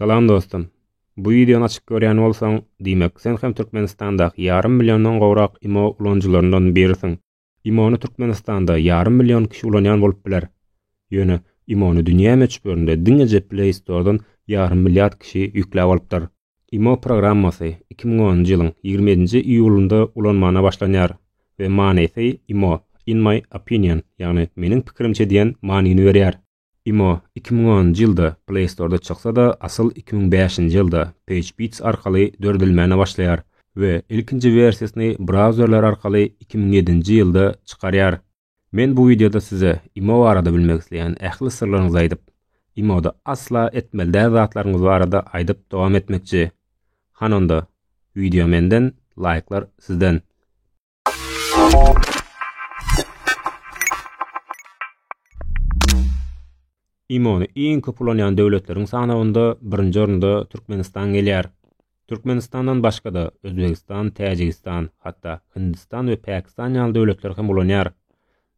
Salam dostum. Bu wideony açyp görýän bolsaň, diýmek, sen hem Türkmenistandaky ýarym milliondan gowrak imo ulanyjylaryndan birisiň. Imony Türkmenistanda ýarym million kişi ulanýan bolup biler. Ýöne imony dünýä möçberinde diňeje Play Store-dan ýarym milliard kişi ýükläp alypdyr. Imo programmasy iki müň onunjy ýylyň ýigrimi ýedinji iýulynda ulanmana başlanýar we manysy imo, in my opinion, ýagny meniň pikirimçe diýen manyny berýär. Imo iki müň onunjy ýylda Play Store-da çyksa-da, asyl iki müň bäşinji ýylda PageBeats arkaly döredilmäne başlaýar we ilkinji wersiýasyny brauzerler arkaly iki müň ýedinji ýylda çykarýar. Men bu wideoda size Imo barada bilmek isleýän ähli syrlaryňyzy aýdyp, Imo-da asla etmeli däl zatlaryňyz barada aýdyp dowam etmekçi. Han onda, wideo menden, laýklar sizden. IMO-ny iň köp ulanýan döwletleriň sanawynda birinji orunda Türkmenistan gelýär. Türkmenistandan başga-da Özbegistan, Täjigistan, hatda Hindistan we Pakistan ýaly döwletler hem ulanýar.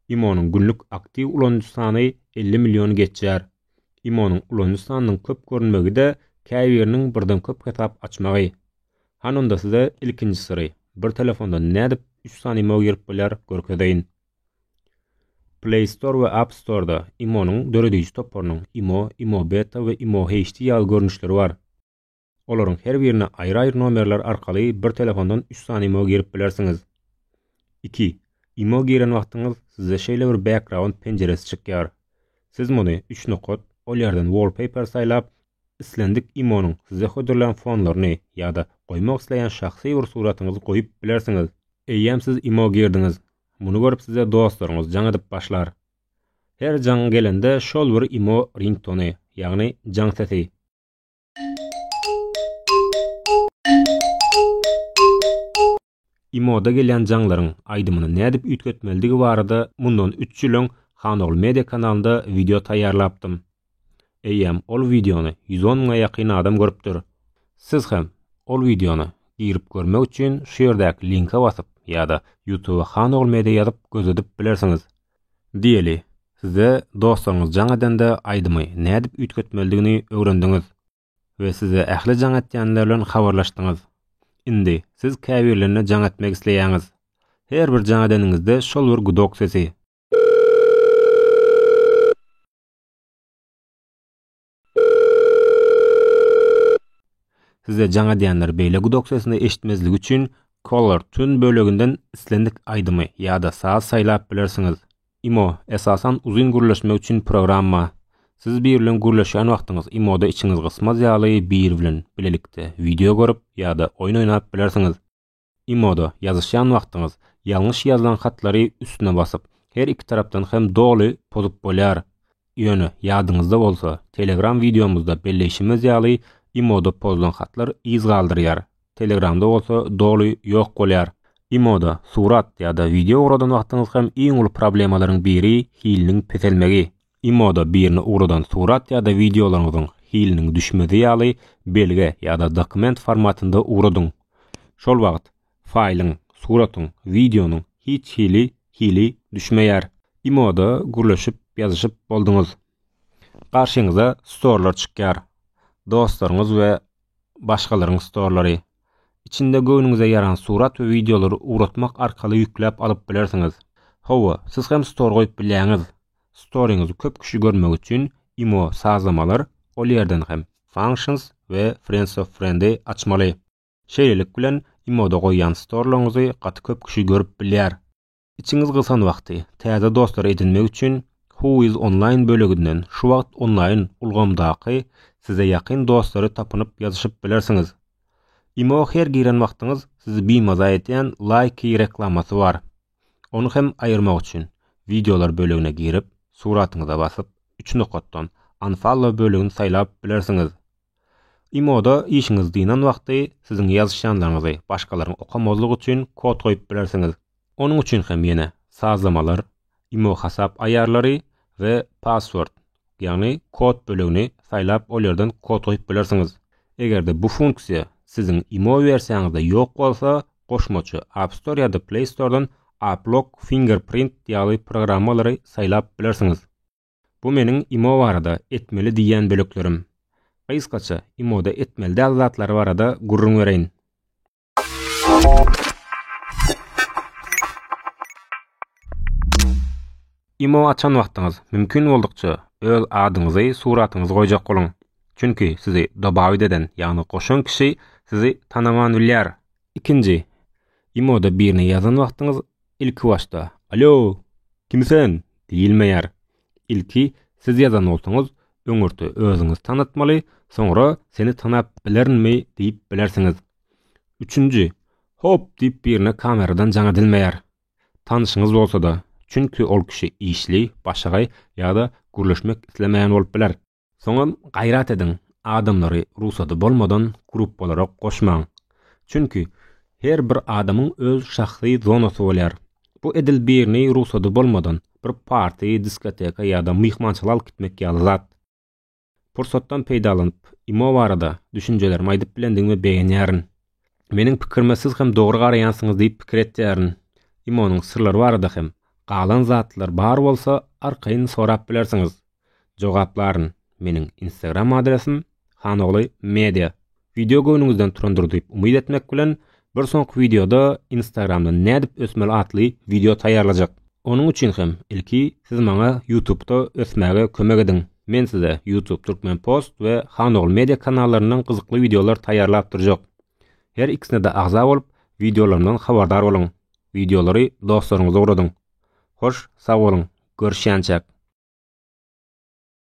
IMO-nyň günlük aktiw ulanyjy sany 50 milliony geçýär. IMO-nyň ulanyjy sanynyň köp görünmegi-de käbiriniň birden köp hesap açmagy. Hany onda size ilkinji syry, bir telefondan nädip üç sany imo girip bolýar görkezeýin. Play Store we App Store-da imo-nyň dörediji toparynyň imo, imo beta we imo HD ýaly görnüşleri bar. Olaryň her birine aýry-aýry nomerler arkaly bir telefondan üç sany imo girip bilersiňiz. Iki, imo giren wagtyňyz size şeýle bir background penjiresi çykýar. Siz muny üç nokat, ol ýerden wallpaper saýlap, Islendik IMO-nyň size hödürlän fonlaryny ýa-da goýmak isleýän şahsy bir suratyňyzy goýup bilersiňiz. Eýýäm siz IMO girdiňiz, muny görüp size dostlaryňyz jaň edip başlar. Her jaň gelende şol bir IMO ringtony, ýagny jaň sesi. IMO-da gelýän jaňlaryň aýdymyny nädip üýtgetmelidigi barada mundan üç ýyl öň Hanogly Media kanalynda wideo taýýarlapdym. Eýýäm ol wideony ýüz on müňe ýakyn adam görüpdir. Siz hem ol wideony girip görmek üçin şu ýerdäki linke basyp ýa-da Ýutuba Hanogly Media ýazyp gözledip bilersiňiz. Diýeli, size dostlaryňyz jaň edende aýdymy nädip üýtgetmelidigini öwrendiňiz. We size ähli jaň etýänler bilen habarlaşdyňyz. Indi, siz käbirlerine jaň etmek isleýäňiz. Her bir jaň edeniňizde şol bir gudok sesi. Size jaň edýänler beýle gudok sesini eşitmezligi üçin Caller Tune böleginden islendik aýdymy ýa-da saz saýlap bilersiňiz. Imo, esasan, uzyn gürleşmek üçin programma. Siz biri bilen gürleşýän wagtyňyz imoda içiňiz gysmaz ýaly biri bilen bilelikde wideo görüp ýa-da oýun oýnap bilersiňiz. Imoda ýazyşýan wagtyňyz ýalňyş ýazylan hatlary üstüne basyp, her iki tarapdan hem doly pozup bolýar. Ýöne, ýadyňyzda bolsa, Telegram wideomyzda belleýşimiz ýaly, IMO-da pozlan hatlar yz galdyrýar, Telegramda bolsa doly ýok bolýar. IMO-da surat ýa-da wideo ugradan wagtyňyz hem iň uly problemalaryň biri hiliniň peselmegi. IMO-da birine ugradan surat ýa-da wideolaryňyzyň hiliniň düşmezi ýaly belge ýa-da dokument formatynda ugradyň. Şol wagt, faýlyň, suratyň, wideonyň hiç hili hili düşmeýär. Imoda gürleşip ýazyşyp bolduňyz. Garşyňyza storlar çykýar. Dostlaryňyz we başgalaryň storlary. Içinde göwnüňize ýaran surat we wideolary ugratmak arkaly ýükläp alyp bilersiňiz. Hawa, siz hem stor goýup bilýäňiz. Storyňyzy köp kişi görmegi üçin Imo sazlamalar, ol ýerden hem Functions we Friends of Friends'i açmaly. Şeýlelik bilen, imoda goýýan storlaryňyzy gaty köp kişi görüp bilýär. Içiňiz gysan wagty, täze dostlar edinmek üçin Who is Online böleginden şu wagt onlaýn ulgamdaky size ýakyn dostlary tapynyp ýazyşyp bilersiňiz. Imo her giren wagtyňyz sizi bimaza edýän Likee reklamasy bar. Ony hem aýyrmak üçin, Wideolar bölegine girip, suratyňyza basyp, üç nokatdan Unfollow bölegini saýlap bilersiňiz. Imo-da işiňiz dynan wagty siziň ýazyşýanlaryňyzy başgalaryň okamazlygy üçin kod goýup bilersiňiz. Onuň üçin hem ýene Sazlamalar, Imo hasap aýarlary we Password, ýagny kod bölegini saýlap ol ýerden kod goýup bilersiňiz. Eger-de bu funksiýa siziň Imo wersiýaňyzda ýok bolsa, goşmaça App Store ýa-da Play Store-dan AppLock, Fingerprint ýaly programmalary saýlap bilersiňiz. Bu meniň imo barada etmeli diýýän böleklerim. Gysgaça, imoda etmeli däl zatlar barada gürrüň bereýin. Imo açan wagtyňyz, mümkin boldukça, öz adyňyzy, suratyňyzy goýjak boluň. Çünki sizi dobawit eden, ýagny goşan kişi sizi tanaman bilýär. Ikinji, imoda birine ýazan wagtyňyz, Ilkibaşda, Alo, kim sen? diýilmeýär. Ilki siz ýazan bolsaňyz, öňürti özüňizi tanatmaly, soňra seni tanap bilerinmi diýip bilersiňiz. Üçünji, Hop diýip birine kameradan jaň edilmeýär. Tanşyňyz bolsa-da, çünki ol kişi işli, başagaý ýa-da gürleşmek islemeýän bolup biler. Soňam gaýrat ediň, adamlary rugsady bolmadan gruppalara goşmaň. Çünki, her bir adamyň öz şahsy zonasy bolýar. Bu edil birini rugsady bolmadan bir party, diskoteka ýa-da myhmançylyga alyp gitmek ýaly zat. Pursatdan peýdalanyp, imo barada düşünjelerimi aýdyp bilendigime begenýärin. Meniň pikirime siz hem dogry garaýansyňyz diýip pikir etýärin. Imanyň syrlary barada hem galan zatlar bar bolsa arkaýyn sorap bilersiňiz. Jogaplaryn. Meniň instagram adresim Hanogly media. Wideo göwnüňizden turandyr diýip umyt etmek bilen bir soňky wideoda instagramdan nädip ösmeli atly wideo taýýarlajak. Onuň üçin hem ilki siz maňa ýutubda ösmäge kömek ediň. Men size ýutub Türkmen post we Hanogul media kanallaryndan gyzykly wideolar taýýarlap durjak. Her ikisine-de agza bolup, wideolarymdan habardar boluň. Wideolary dostlaryňyza ugradyň. Hoş, sag boluň, görüşýänçäk!